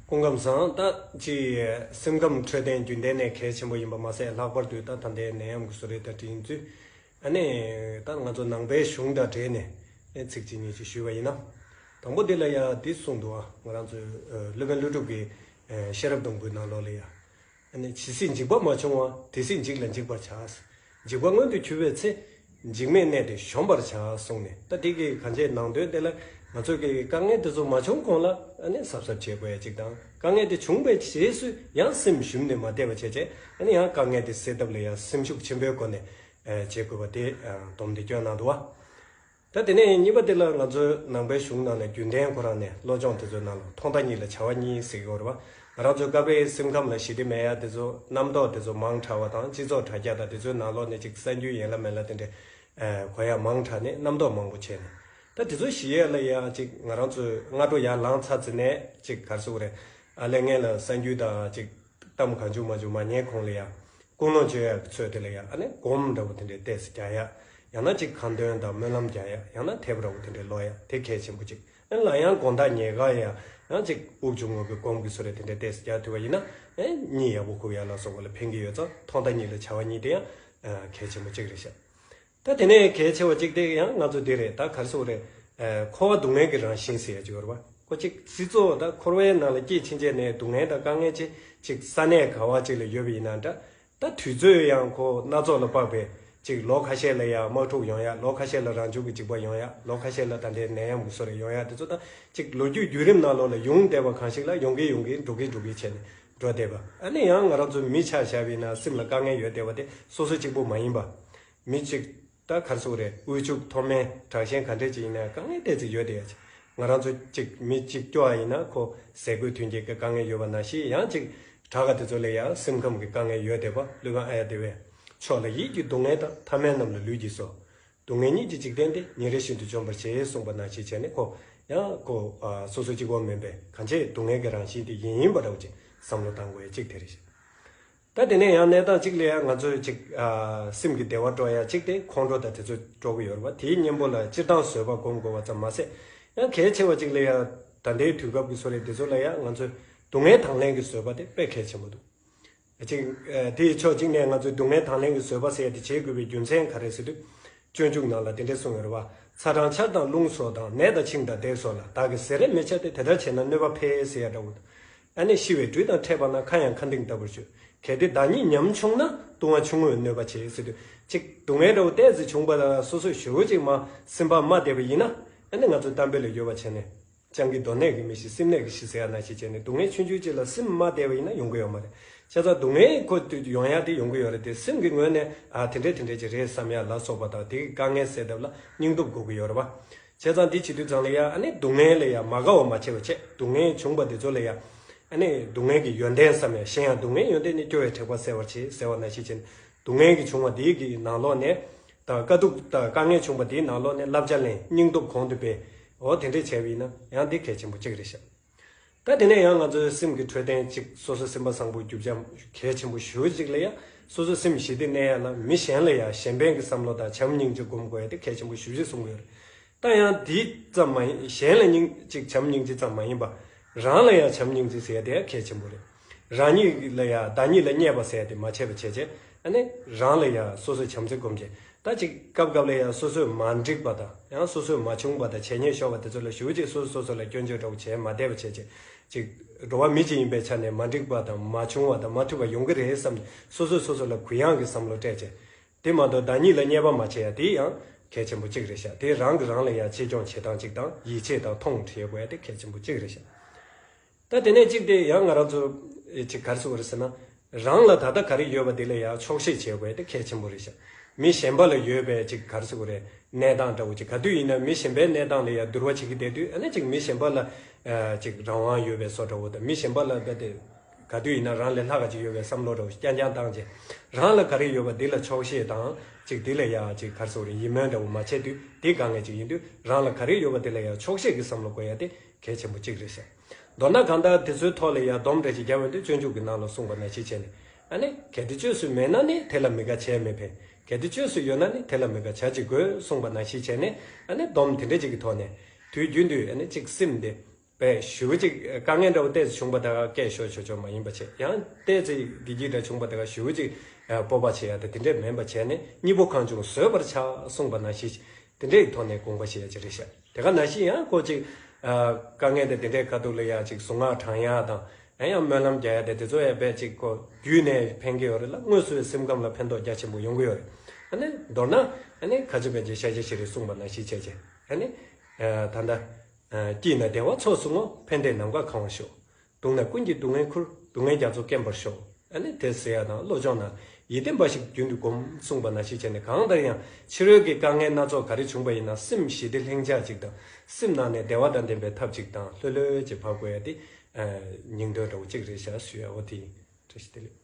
སྐུ་ཁམས་བཟང་ལྟ་ཅི། སེམས་ཁམས་འཕྲོད་བསྟེན་རྒྱུན་ལྡན་ནས་གལ་ཆེན་པོ་ཡིན་པ་མ་ཟད་ལྷག་པར་དུ་ད་ད་ལྟའི་ནད་ཡམས་ཀྱི་གསོ་རེས་བརྡ་འཕྲིན་བརྒྱུད། ད་ནས་ད་ང་ཚོ་ནང་པའི་གཞུང་དང་འབྲེལ་ནས་གནས་ཚིག་ཅིག་གཉིས་ཅིག་ཞུས་པ་ཡིན་ན། དང་པོ་འདི་ལ་ཡང་འདི་གསུངས་འདུག་ང་རང་ཚོའི་སློབ་དཔོན་ཀླུ་སྒྲུབ་ཀྱི་ཤེས་རབ་སྡོང་པོའི་ནང་ལོགས་ལས་ཡང་ཇི་སྲིད་འཇིག་པ་མ་བྱུང་བ་དེ་སྲིད་འཇིག་ལ་འཇིག་པར་བྱ། འཇིག་པ་མངོན་དུ་གྱུར་པའི་ཚེ། འཇིག་མེད་གནས་དེ་གཞོམ་པར་བྱ་གསུངས་ནས་ད་ཏིག་གིས་གང་བྱས་ནང་དོན་དེ་ལ་ང་ཚོས་ཀྱི་དཀའ་ངལ་དེ་ཚོ་མ་བྱུང་གོང་ལ་གཟབ་གཟབ་བྱེད་དགོས་ཅིག་དང་དཀའ་ངལ་དེ་བྱུང་པའི་རྗེས་སུ་ཡང་སེམས་ཞུམ་ནས་མ་བསྡད་པ་བྱས་རྗེས་ཡང་དཀའ་ངལ་དེ་སེལ་ཐབས་ལ་ཡང་སེམས་ཤུགས་ཆེན་པོའི་སྒོ་ནས་བྱེད་དགོས་པ་དེ་དོམ་དེ་སྐྱོ་ནང་དུ་བ། ད་དེ་ནས་གཉིས་པ་དེ་ལ་ང་ཚོས་ནང་པའི་གཞུང་ནང་ནས་རྒྱུན་ལྡན་ཁོ་རང་ནས་བློ་སྦྱོང་དེ་ཚོའི་ནང་ལ་ཐོག་མཐའ་གཉིས་ལ་བྱ་བ་གཉིས་གཟིགས་དགོས་རེད་པ། ང་རང་ཚོའི་ཀ་པའི་སེམས་ཁམས་ལ་ཞི་བདེ་མེད་ཡ་དེ་ཚོ་རྣམ་རྟོག་དེ་ཚོ་མང་དྲགས་བ་དང་སྤྱི་ཚོགས་དྲ་རྒྱ་དང་དེ་ཚོའི་ནང་ལོག་ནས་ཅིག་གསར་འགྱུར་ཡན་ལ་མན་ལ་དེ་འདྲའི་གོ་ཡ་མང་དྲགས་ནས་རྣམ་རྟོག་མང་པོ་བྱས་ནས་ད་དེ་ཚོ་ཞི་ཡ་ལ་ཡ་ཅིག་ང་རང་ཚོས་སྔ་དྲོ་ཡར་ལངས་ཚར་ཚེ་ནས་ཅིག་གར་སོང་རེད་ཨ་ལས་ངན་ལ་གསར་འགྱུར་དང་ཅིག། གཏམ་གང་བྱུང་མ་བྱུང་མ་ཉན་གོང་ལ་ཡང། ཀུན་སློང་སྤྱོད་ཡག་གི་ཚོད་དེ་ལ་ཡང་ཨ་ནི་སྒོམ་འདྲ་བོ་དེ་འདྲའི་ལྟས་སུ་གྱ་ཡག། ཡང་ན་ཅིག་གང་དོན་དང་སྨོན་ལམ་རྒྱག་ཡག་ཡང་ན་དེབ་ར་བོ་དེ་འདྲའི་ཀློག་ཡག་དེ་གལ་ཆེན་པོ་ཅིག་ཨེ་ལ་ཡང་དགོངས་དག་ཉེ་དགའ་ཡང་ན་ཅིག་དབུགས་ཆུང་ངུ་གི་སྒོམ་གི་སུ་རེད་དེ་འདྲའི་ལྟས་སུ་གྱ་ཐུབ་པ་ཡིན་ན་ཨེ། གཉིད་ཡག་པོ་ཁུག་ཡག་ལ་སོགས་པ་ལ་ཕན་གྱི་ཡོད་ཙང་ཐོག་མཐའ་གཉིས་ལ་བྱ་བ་གཉིས་དེ་ཡང་གལ་ཆེན་པོ་གཅིག་རེད་ཤག། ད་དེ་ནས་གལ་ཆེ་བ་གཅིག་དེ་ཡང་ང་ཚོ་འདི་རེད་ད་གར་སོང་རེད། འཁོར་བ་སྡུག་བསྔལ་གྱི་རང་བཞིན་ཟེར་ཡ་ཅིག་ཡོད་རེད་བ། ཁོ་ཅིག་སི་ཙོ་ད་འཁོར་བའི་ནང་ལ་སྐྱེས་ཕྱིན་ཆད་ནས་སྡུག་བསྔལ་དང་དཀའ་ངལ་ཆེ་ཅིག་ས་གནས་ག་བ་ཅིག་ལ་ཡོད་པ་ཡིན་ན་འདྲ། ད་དུས་ཚོད་ཡང་ཁོ་སྣ་ཚོགས་ལ་དཔག་པས་ཅིག་ལོ་ཁ་ཤས་ལ་ཡང་དམག་འཁྲུག་ཡོང་ཡ་ལོ་ཁ་ཤས་ལ་རང་བྱུང་གི་འཇིགས་པ་ཡོང་ཡ་ལོ་ཁ་ཤས་ལ་ད་ལྟའི་ནད་ཡམས་ཀྱི་སོ་རེ་ཡོང་ཡ་དེ་ཚོ་ད་ཅིག་ལོ་རྒྱུས་བརྒྱུད་རིམ་ནང་ལོགས་ལ་ཡོང་བསྡད་པ་གང་ཞིག་ལ་ཡོང་གིན་ཡོང་གིན་འགྲོ་གིན་འགྲོ་གིན་བྱས་ནས་འགྲོ་བདེ་བ། ཨ་ནི་ཡང་ང་རང་ཚོ་མི་ཆགས་བྱ་བའི་ན་སེམས་ལ་དཀའ་ངལ་ཡོད་བདེ་བ་དེ་སོ་སོ་གཅིག་པོ་མ་ཡིན་པ། མི་གཅིག་ད་གར་སོང་རེད་དབུལ་ཕྱུག་མཐོ་དམན་དྲག་ཞན་ག་འདྲས་ཅིག་ཡིན་ན་དཀའ་ངལ་བལྟས་ཚེ་ཡོད་བདེ་ཡ། ང་རང་ཚོ་གཅིག་མི་གཅིག་སྐྱོ་བ་ཡིན་ན་ཁོ་ཟས་གོས་ཐོན་སྐྱེད་ཀྱི་དཀའ་ངལ་ཡོད་བ་ན་ཞིག་ཡང་གཅིག་དྲག་ག་དེ་ཚོ་ལས་ཡང་སེམས་ཁམས་ཀྱི་དཀའ་ངལ་ཡོད་བདེ་བ་ལུས་ཁམས་ཨ་ཡ་བདེ་བས་ཆོག་ལ་ཡིད་ཀྱི་སྡུག་བསྔལ་དང་ཐ་མལ་རྣམས་ལ་ལུས་ཀྱིས་སོ་སྡུག་བསྔལ་གཉིས་ཀྱི་འཇིག་རྟེན་འདི་ཉིན་རེ་བཞིན་དུ་འཇོམས་པར་བྱེད་གསུངས་པ་ན་ཞེས་བྱ་ནི་ཁོ། ཡང། ཁོ། སོ་སོ་གཅིག་བོ་མིན་པས་གང་ཕྱིར་སྡུག་བསྔལ་གྱི་རང་བཞིན་དེ་ཡིན་ཡིན་པར་རོ་ཅིག་བསམ་བློ་བཏང་གོ་ཡ་གཅིག་དེ་རེ་ཞིག། ད་དེ་ནས་ཡང་གནས་སྟངས་གཅིག་ལས་ཡ་ང་ཚོས་ཅིག། སེམས་ཀྱི་བདེ་བ་སྤྲོ་ཡ་གཅིག་དེ་ཁོང་ཁྲོ་དང་དེ་ཚོས་སྤྲོ་གི་ཡོད་རེད་བ་དེའི་གཉེན་པོ་ལ་སྤྱིར་བཏང་བཟོད་པ་སྒོམ་དགོས་བ་ཙམ་མ་ཟད། ཡང་གལ་ཆེ་བ་གཅིག་ལས་ཡ། ད་ལྟའི་དུས་སྐབས་ཀྱི་སོ་རས་འདི་ཚོ་ལ་ཡ་ང་ཚོས་སྡུག་བསྔལ་དང་ལེན་གྱི་བཟོད་པ་དེ་དཔེ་གལ་ཆེན་པོ་འདུག། ཅིག། དེ་ཡི་ཕྱོགས་གཅིག་ནས་ང་ཚོས་སྡུག་བསྔལ་དང་ལེན་གྱི་བཟོད་པ་ཟད་དེ་བྱེད་དགོས་པའི་རྒྱུ་མཚན་ག་རེ་ཟེར། སྤྱོད་འཇུག་ནང་ལ་དེ་འདྲས་གསུངས་ཡོད། ཚ་དང་ཆར་དང་རླུང་སོགས་དང་ནད་དང་ཆིངས་དང་དེད་སོགས་ལ་བདག་གིས་ཟས་རེ་མི་བྱ་སྟེ་དེ་ལྟར་བྱས་ན་གནོད་པ་འཕེལ་ཟེར་ཡ་འདྲ་བོ། ཨ་ནེ་ཤི་བའི་དུས་དང་འཕྲད་པ་ན་ཁ་ཡང་ཁ་འདིང་ལྟ་བུར་བྱོས། གལ་ཏེ་བདག་ཉིད་ཉམ་ཆུང་ན་ལྟུང་བ་ཆུང་ངུས་གནོད་པ་བྱེད་ཟེར། ཅིག། སྡུག་བསྔལ་འདྲ་བོ་བལྟས་ཚེ་བྱུང་བ་ལ་སོ་སོས་ཞོལ་གཅིག་མ་ཟིན་པར་མ་བསྡད་པ་ཡིན་ན་ཨ་ནེ་ང་ཚོས་གཏམ་དཔེ་ལ་ཡོད་པ་བྱས་ནས། སྤྱང་ཀི་གདོན་ནད་ཀྱི་མི་ཞིག་སེམས་ནད་ཀྱི་ཞི་ཟེར་ཡ་ན་ཞིག་བྱས་ནས་སྡུག་བསྔལ་ཆུན་ཆུན་ཅིག་ལ་སེམས་མ་བདེ་བ་ཡིན་ན་ཡོང་གི་ཡོད་མ་རེད། ཁྱེད་ཚང་སྡུག་བསྔལ་ཁོ་སྟོད་ཀྱི་ཡོང་ཡ་དེ་ཡོང་གི་ཡོད་རེད་དེ་སེམས་ཀྱི་ངོས་ནས་ཨ་དེ་འདྲས་དེ་འདྲས་ཅིག་རེད་བསམ་ཡ་ལ་སོགས་པ་དང་དེ་གི་དཀའ་ངལ་སེལ་ཐབས་ལ་སྙིང་སྟོབས་དགོས་གི་ཡོད་རེད་བ། ཁྱེད་ཚང་འདི་བྱེད་དུས་ཚང་ལ་ཡ་ཨ་ནི་སྡུག་བསྔལ་ལས་ཡ་མ་དགའ་བ་མ་བྱེད་བ་ཆེད་སྡུག་བསྔལ་བྱུང་བ་དེ་ཚོ་ལས་ཡ་ཨ་ནི་སྡུག་བསྔལ་གྱི་ཡོན་ཏན་བསམ་ཡ་གཞན་ཡང་སྡུག་བསྔལ་ཡོན་ཏན་ནི་སྐྱོ་བའི་དྲེགས་པ་སེལ་བར་བྱེད་ཟེར་བ་ན་ཞིག་བྱས་ནས་སྡུག་བསྔལ་གྱི་བྱུང་བ་དེ་གི་ནང་ལོགས་ནས་དང་དཀའ་སྡུག་དང་དཀའ་ངལ་བྱུང་པ་དེའི་ནང་ལོག་ནས་བསླབ་བྱ་ལེན་སྙིང་སྟོབས་གོང་དུ་སྤེལ། འོ་དེ་འདྲས་བྱས་པ་ཡིན་ན་ཡང་དེ་གལ་ཆེན་པོ་གཅིག་རེད་ཤག། ད་དེ་ནས་ཡང་ང་ཚོའི་སེམས་ཀྱི་འཕྲོད་བསྟེན་གཅིག་སོ་སོ་སེམས་པ་བཟང་པོ་རྒྱུ་བྱ་གལ་ཆེན་པོ་ཞུ་གཅིག་ལ་ཡ་སོ་སོ་སེམས་ཞི་བདེ་གནས་ཡ་ལ་མི་གཞན་ལ་ཡ་གཞན་ཕན་གྱི་བསམ་བློ་དང་བྱམས་སྙིང་གཅིག་སྒོམ་དགོས་ཡ་དེ་གལ་ཆེན་པོ་ཞུ་གཅིག་གསུང་གི་ཡོད་རེད་ད་ཡང་དེ་ཙམ་མ་ཡིན་གཞན་ལ་སྙིང་གཅིག་བྱམས་སྙིང་གཅིག་ཙམ་མ་ཡིན་པ་རང་ལ་ཡང་བྱམས་སྙིང་གཅིག་ཟེར་ཡ་དེ་ཡང་གལ་ཆེན་པོ་རེད། རང་ཉིད་ལ་ཡང་བདག་ཉིད་ལ་བརྙས་པ་ཟད་དེ་མ་བྱས་པ་བྱས་བྱས་ནས་རང་ལ་ཡང་སོ་སོས་བྱམས་བརྩེ་བསྒོམ་བྱས་ད་ཅིག་སྐབས་སྐབས་ལ་ཡང་སོ་སོས་མ་འགྲིག་པ་དང་ཡང་སོ་སོས་མ་བྱུང་བ་དང་བྱས་ཉེས་ཤོར་བ་དེ་ཚོ་ལ་ཞུ་ཅིག་སོ་སོས་སོ་སོ་ལ་སྐྱོན་བརྗོད་སྒྲོག་བྱས་མ་བསྡད་པ་བྱས་བྱས་ཅིག་འགྲོ་བ་མི་གཅིག་ཡིན་པའི་ཆ་ནས་མ་འགྲིག་པ་དང་མ་བྱུང་བ་དང་མ་ཐུལ་བ་ཡོང་གི་རེད་བསམ་ནས་སོ་སོས་སོ་སོ་ལ་གུ་ཡངས་ཀྱི་བསམ་བློ་སྤྲད་བྱས་དེ་མ་གཏོགས་བདག་ཉིད་ལ་བརྙས་པ་མ་བྱས་ཡ་དེ་ཡང་གལ་ཆེན་པོ་གཅིག་རེད་ཤག་དེ་རང་གི་རང་ལ་ཡང་ཆེད་སྐྱོང་བྱེད་སྟངས་གཅིག་དང་ཡིད་ཆེས་དང་མཐོང་བ་ཞིག་ཡོད་དགོས་ཡ་དེ་གལ་ཆེན་པོ་གཅིག་རེད་ཤག། ད་དེ་ནས་གཅིག་དེ་ཡང་ང་རང་ཚོ་གཅིག་གར་སོང་བ་རེད་ཟེར་ན། རང་ལ་ད་ལྟ་ག་རེ་ཡོད་པ་དེ་ལ་ཡང་ཆོག་ཤེས་བྱེད་དགོས་པ་དེ་གལ་ཆེན་པོ་རེད་ཤག་མི་གཞན་པ་ལ་ཡོད་པའི་གཅིག་གར་སོང་བ་རེད་གནས་སྟངས་འདྲ་བོ་གཅིག་ག་དུས་ཡིན་ན་མི་གཞན་པའི་གནས་སྟངས་ལ་ཡང་བསྡུར་བ་བྱེད་ཀྱི་བསྡད་དུས་ཨ་ན་གཅིག་མི་གཞན་པ་ལ་གཅིག་རང་དབང་ཡོད་པའི་སོ་འདྲ་བོ་དང་མི་གཞན་པ་ལ་ད་དེ་ག་དུས་ཡིན་ན་རང་ལས་ལྷག་ག་གཅིག་ཡོད་པའི་བསམ་བློ་འདྲ་བོ་ཞིག་རྐྱང་རྐྱང་བཏང་རྗེས་རང་ལ་ག་རེ་ཡོད་པ་དེ་ལ་ཆོག་ཤེས་དང་གཅིག་དེ་ལ་ཡང་གཅིག་གར་སོང་བ་རེད་ཡིད་སྨོན་འདྲ་བོ་མ་བྱས་དུས་དེ་ག་ངེས་གཅིག་ཡིན་དུས་རང་ལ་ག་རེ་ཡོད་པ་དེ་ལ་ཡང་ཆོག་ཤེས་ཀྱི་བསམ་བློ་དགོས་ཡ་དེ་གལ་ཆེན་པོ་གཅིག་རེད་ཟེར། མདོར་ན་གང་ལྟར་དེ་ཚོའི་ཐོག་ལ་ཡར་སྡོམ་འདྲ་ཞིག་རྒྱག་འོས་འདུག་སྤྱོད་འཇུག་གི་ནང་ལ་གསུངས་པ་ནང་བཞིན་བྱས་ནས་ཨ་ནི། གལ་ཏེ་བཅོས་སུ་མེད་ན་ནི་དེ་ལ་མི་དགའ་བྱས་མི་ཕན། གལ་ཏེ་བཅོས་སུ་ཡོད་ན་ནི་དེ་ལ་མི་དགའ་བྱ་ཅི་དགོས་གསུངས་པ་ནང་བཞིན་བྱས་ནས་ཨ་ནི། སྡོམ་དེ་འདྲ་ཅིག་གི་ཐོག་ནས། དུས་རྒྱུན་དུ་ཨ་ནི་གཅིག་སེམས་བདེ། བའི་ཞུ་བ་ཅིག་དཀའ་ངལ་འདྲ་བོ་ལྟས་ཚེ་བྱུང་པ་དག་སྐད་ཤོར་ཆོག་ཆོག་མ་ཡིན་པ་བྱས་ཡང། ལྟས་ཚེ་བདེ་སྐྱིད་འདྲ་བྱུང་པ་དག་ཞུ་བ་ཅིག་སྤོབས་པ་བྱས་ཡ་དེ་དེ་འདྲས་མིན་པ་བྱས་ནས་གཉིས་པོ་གང་བྱུང་བཟོད་པར་བྱ་གསུངས་པ་ནང་བཞིན། དེ་འདྲས་ཀྱི་ཐོག་ནས་དགོངས་པ་བཞེས་ཡ་ཅི་རེད་བཤད། དེ་ག་ན་བཞིན་ཡང་ཁོ་ཅིག། དཀའ་ངལ་དེ་འདི་འདྲའི་དཀའ་སྡུག་ལ་ཡང་ཅིག་གཟུངས་སྔགས་བགྲང་ཡ་དང། ཡང་ཡང་སྨོན་ལམ་རྒྱག་ཡ་དེ་དེ་ཚོ་ཡང་རྦད་ཅིག་ཁོ་བརྒྱུད་ནས་ཕན་གྱི་ཡོད་རེད་ལ་དངོས་སུ་སེམས་ཁམས་ལ་ཕན་ཐོགས་རྒྱ་ཆེན་པོ་ཡོང་གི་ཡོད་རེད། ཨ་ནི་མདོར་ན། ཨ་ནི་ཁ་ཆེ་བན་ཆེ་ཤ་ཆེ་ཞིག་རེད་གསུངས་པ་ན་གཞིས་བྱེས་ཀྱི། ཨ་ནི། ད་ལྟ། སྐྱིད་ན་བདེ་བ་ཚོགས་བཟུང་ངོ་ཕན་བདེ་ནམ་མཁའ་གང་བར་ཤོག། དུང་ན་ཀུན་གྱི་སྡུག་བསྔལ་ཁུར་སྡུག་བསྔལ་རྒྱ་མཚོ་སྐེམ་པར་ཤོག། ཨནི་དེ་ཟེར་ཡག་དང་བློ་སྦྱོང་ན་ཡིད་བརྟན་འབའ་ཞིག་རྒྱུན་དུ་སྒོམ་གསུངས་པ་ན་ཤེས་བྱས་ནས་གང་ལྟར་ཡང་ཕྱི་རོལ་གྱི་དཀའ་ངལ་སྣ་ཚོགས་ག་རེ་བྱུང་བ་ཡིན་ན་སེམས་ཞི་བདེ་ལྷིང་འཇགས་ཅིག་དང་སེམས་ནང་ནས་བདེ་བ་དང་ལྡན་པའི་ཐབས་ཅིག་དང་ལྷོད་ལྷོད་ཀྱིས་བག་གོ་ཡ་དེ་སྙིང་དོན་འདྲ་བོ་གཅིག་རེད་ཤག་ཞུ་ཡག་བོ་དེ་ཡིན་བཀྲ་ཤིས་བདེ་ལེགས།